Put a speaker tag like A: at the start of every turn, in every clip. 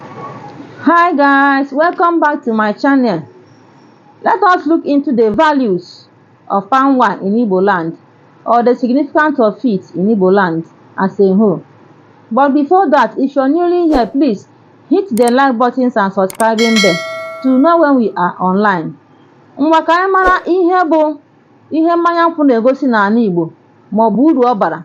A: Hi guys, welcome back to my channel. Let us look into the values of palm wine in Igbo land or the significance of it in Igbo land as a whole. But before that, if you're newly here, please hit the like buttons and subscribing bell to know when we are online. Ngwa ka anyị mara ihe bụ ihe mmanya nkwụ na-egosi n'ala Igbo maọbụ uru ọ bara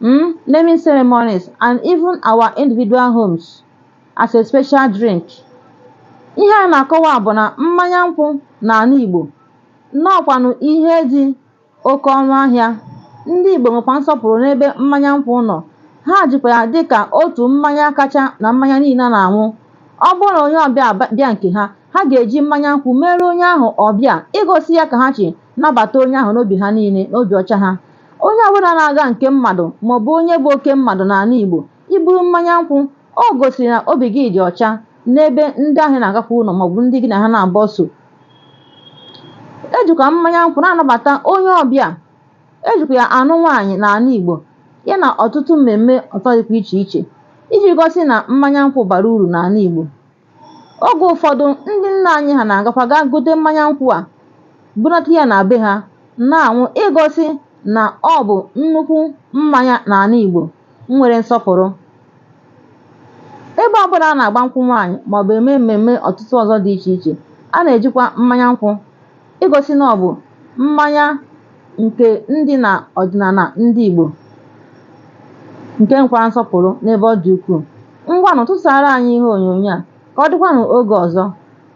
A: mm, naming ceremonies and even our individual homes as a special drink ihe a na-akọwa bụ na mmanya nkwụ n'ala Igbo nnọọkwanụ ihe dị oke ọnụ ahịa ndị Igbo nwekwa nsọpụrụ n'ebe mmanya nkwụ nọ ha jikwa ya dị ka otu mmanya kacha na mmanya niile a na-aṅụ ọ bụrụ na onye ọbịa bịa nke ha ha ga-eji mmanya nkwụ meere onye ahụ ọbịa igosi ya ka ha si nabata onye ahụ n'obi ha niile n'obi ọcha ha Onye ọbụla na-aga nke mmadụ maọbụ onye bụ oke mmadụ n'ala Igbo i buru mmanya nkwụ, o gosiri na obi gị dị ọcha n'ebe ndị ahụ ị na-agakwu nọ maọbụ ndị gị na ha na-agbaso. E jikwa mmanya nkwụ na-anabata onye ọbịa, e jikwa ya anụ nwaanyị n'ala Igbo ya na ọtụtụ mmemme ọzọ dịkwa iche iche iji gosi na mmanya nkwụ bara uru n'ala Igbo. Oge ụfọdụ, ndị nna anyị ha na-agakwa gaa gote mmanya nkwụ a, bunata ya na be ha na-aṅụ igosi na ọ bụ nnukwu mmanya n'ala Igbo nwere nsọpụrụ. Ebe ọbụla a na-agba nkwụ nwaanyị maọbụ eme mmemme ọtụtụ ọzọ dị iche iche, a na-ejikwa mmanya nkwụ igosi na ọ bụ mmanya nke dị na ọdịnala ndị Igbo nke nwekwara nsọpụrụ n'ebe ọ dị ukwuu. Ngwanụ tụsaara anyị ihe onyonyo a ka ọ dịkwanụ oge ọzọ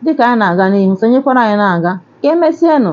A: dịka anyị na-aga n'ihu, sonyekwara anyị na-aga. Ka emesienụ.